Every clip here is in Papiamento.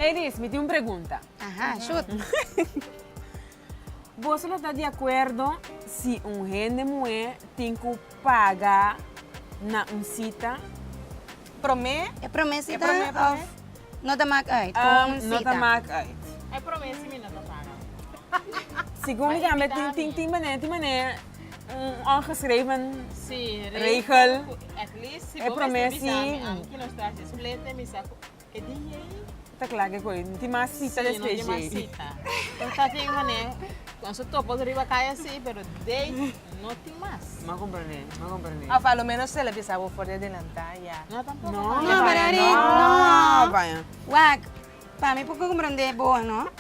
Ladies, mi tin un pregunta. Aha, shoot. Boso lo ta di acuerdo si un hende muhe tin cu paga na un cita? Prome? E prome cita? E prome prome? Of no ta maak uit con un cita? No ta maak uit. E prome si mi no ta paga. Segun mi tambe tin tin tin manera tin manera. Un ongeschreven regel. E prome si. Ta kla ke koe no tin mas sita despues dje. M'a komprende, m'a komprende. Of a lo menos e la bisa bo for di adelanta ya. No baya, no baya. Wak, pa mi por komprende bo no.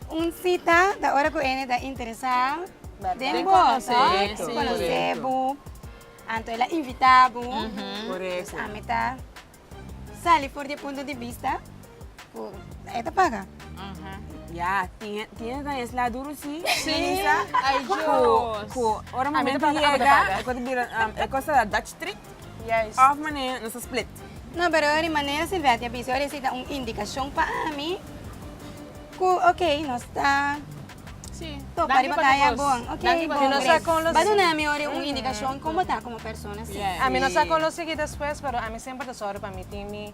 Un cita ta ora cu ene ta interesa den bo, conoce bo, anto el a invita bo, dus ami ta sali for di e punto di vista cu e ta paga. Ya tienes na es la duro si Melissa cu ora momento yega e cosa ta bira dutch treat. Yes. Of manera nos a split. No, pero di manera Silvetti a bisa ahora esi ta un indicacion pa ami cu ok nos ta Si. topa riba kaya bon. Ok bon. Si nos a conoce. Ba duna mi ahora un indicacion como ta como persona si. Yes. Ami no sa conoce aquí despues pero ami semper ta zorgo pa mi tin mi.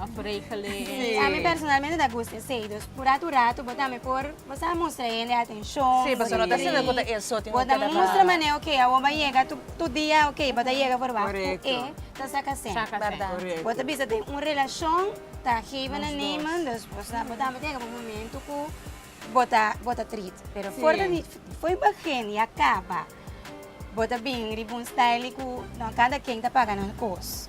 of regel e. Sí, a mi personalmente ta gusta esey. Dus por rato rato bo tambe por, bo sa, mustra e hende atenshon. Sí, pasobra no ta asina ku ta e so tin ku keda klaro. Bo ta mustra mane, ok, awor bo a yega, tur dia, ok, bo ta yega for wak ku e ta saka sènt. Saka sènt. Bèrdat. Korekto. Bo ta bisa den un relashon ta geven en nemen, dus bo sa, bo tambe ta yega pa un momentu ku bo ta, bo ta trist. Pero for ta di, for begin i a kaba, bo ta bini riba un style di ku no a kanta ken ta paga nan kos.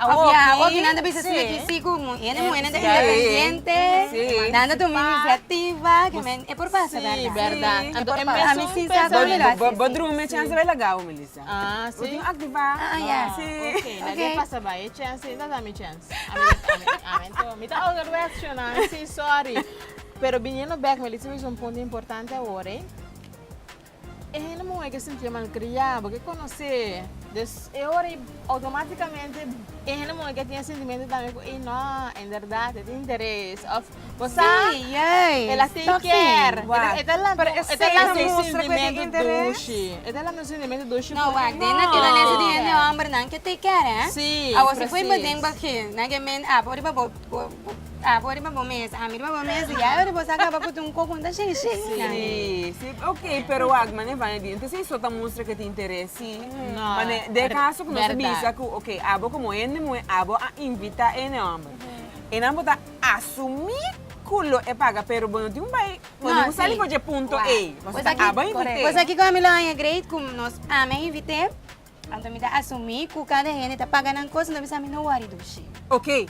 Awor ki nan ta bisa si aki si ku hende muhernan ta independiente, nan ta tuma inisiativa, ke men e por pasa berda. Ami sin sa kon mi lo hasi asin. Bo drumi e chansa bai lagau, Melissa. Yu aktiva. Nadie pasa bai e chansa, e ta dami chans. Mi ta ouder westjo nan, si sorry. Pero biniendo bek, Melissa bisa un punto importante awor ei. E hende muhé ke sintié malkriá bo ke konosé des e ora ei outomátikamente e hende muhé ke tin e sentimentu tambe ku ei no en bèrdat e tin interes òf bo sa el a tei kèr entonces e ta lanta un e ta lanta un sentimentu dushi e ta lanta un sentimentu dushi no wak den na kila lente di hende hòmbernan ke tei kèr hè si presis awo si fu ei bo den bakgè nan ke men ap ora riba bo. Bo a bo riba bo mes, ami riba bo mes, ya ora bo sa kaba ku tin un koko un ta shei shei. Sí, sí, ok, pero wak mane bai di, entonces eso ta mustra ku e ta interes sí. No. Mane den e kaso ku nos a bisa ku ok abo komo hende muhe abo a invita hende homber, enan bo ta asumí ku lo e paga pero bo no tin ku bai, bo no tin ku sali for dje punto ei. Bo ta abo a invit'é. Bo sa kiko ami lo aña great ku nos, ami a invit'é. Anto mi ta asumí ku kada hende ta paga nan kos, anto mi sa mi no wòri dushi. Oké,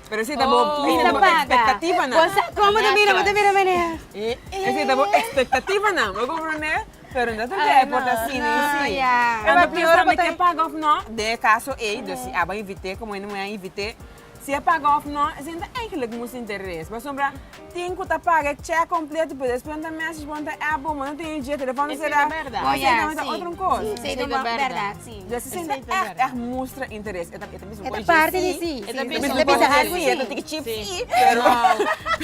pero ese ta bo ekspektativanan. Bo sa komo ta bira, bo ta bira menea. Ese ta bo ekspektativanan, bo komprondé? Pero no ta debe por ta asina i si. Anto piensa bo ta paga òf nò den e kaso ei. Dòs si a bo a invit'é komo hende moe a invit'é. Si e paga òf nò, esei no ta eigenlik musti interes, pasobra tin ku ta paga e chèk kompleto pero despues nan ta mèsesj bo, nan ta èp bo, bo no tin e dje, telefòn ta será, ku esei tambe ta otro un kos. Dje si esei ta ègt ègt mustra interes, e ta bisa bo ku e dje sí, e ta bisa bo ku e dje sí, e ta tiki chip sí, pero.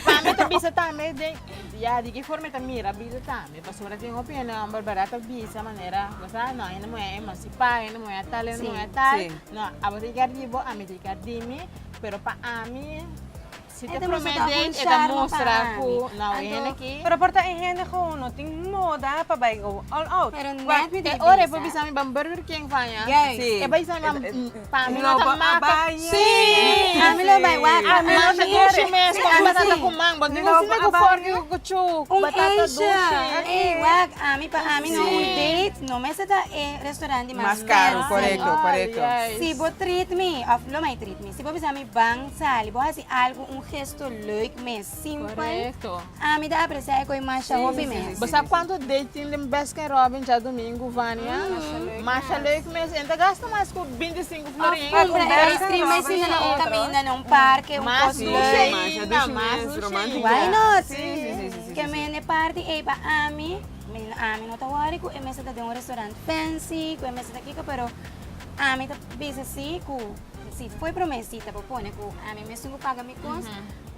Pami e ta bisa tambe den, ya di ki forma e ta mira vida tambe. E pasobra tin hopi hende homber bardad ta bisa manera bo sa no hende muhé e mas si paga hende muhé a tal hende muhé a tal no abo ta yeka riba bo ami ta yeka rimi pero pa ami si ta prome date e ta mustra cu no e hende aki Pero por ta e hende gewoon no tin moda pa bay go all out. Pero net mi di bisa. E ora e por bisa mi ban Burger King faña e bai sa mi ban. Pa mi no ta maka si a mi no bai waka a mi no ta dushi mes con batata cu mango di un sinti cu forki cu cu batata dushi ey wak a mi pa a mi no un date no mester ta e restaurant di mas caro si bo treat mi of lo mai treat mi si bo bisa mi ban sali bo hasi algo un gesto leuk mes. Correcto. Ami ta aprecia e coi masha hopi mes. Bo sa cuanto date tin den Baskin Robbins djadomingo, Vania? Masha leuk mes. E ta gasta mas cu binti y cinco florin. Of compra e ice cream mes y na un caminda na un parke, un cos leuk. Masha dushi mes. Why not? Ke mende party ey pa ami, ami no ta worry cu e mester ta den un restaurant fancy, cu e mester ta kico, pero ami ta bisa si cu si foi prome cita bo pone cu ami mes tin cu paga mi cos,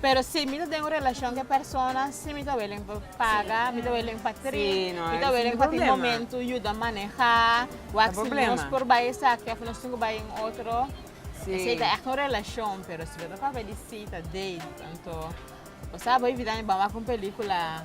Pero si mi ta den un relacion cu e persona si mi ta willing pa paga mi ta willing pa tri mi ta willing pa tin momento yuda maneha wak si nos por bay esaki of nos tin cu bay in otro esey ta echte un relacion pero si lo ta papia di si ta date anto bo sa bo vida mi ban wak un pelicula.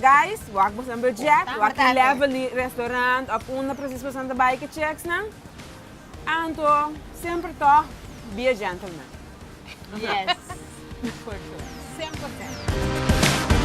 Guys, wak boso nan budget, wak e level di restaurant of unda precies boso ta bai ke checks nan. Anto semper tog be a gentleman. Yes, for sure. Cien por cien.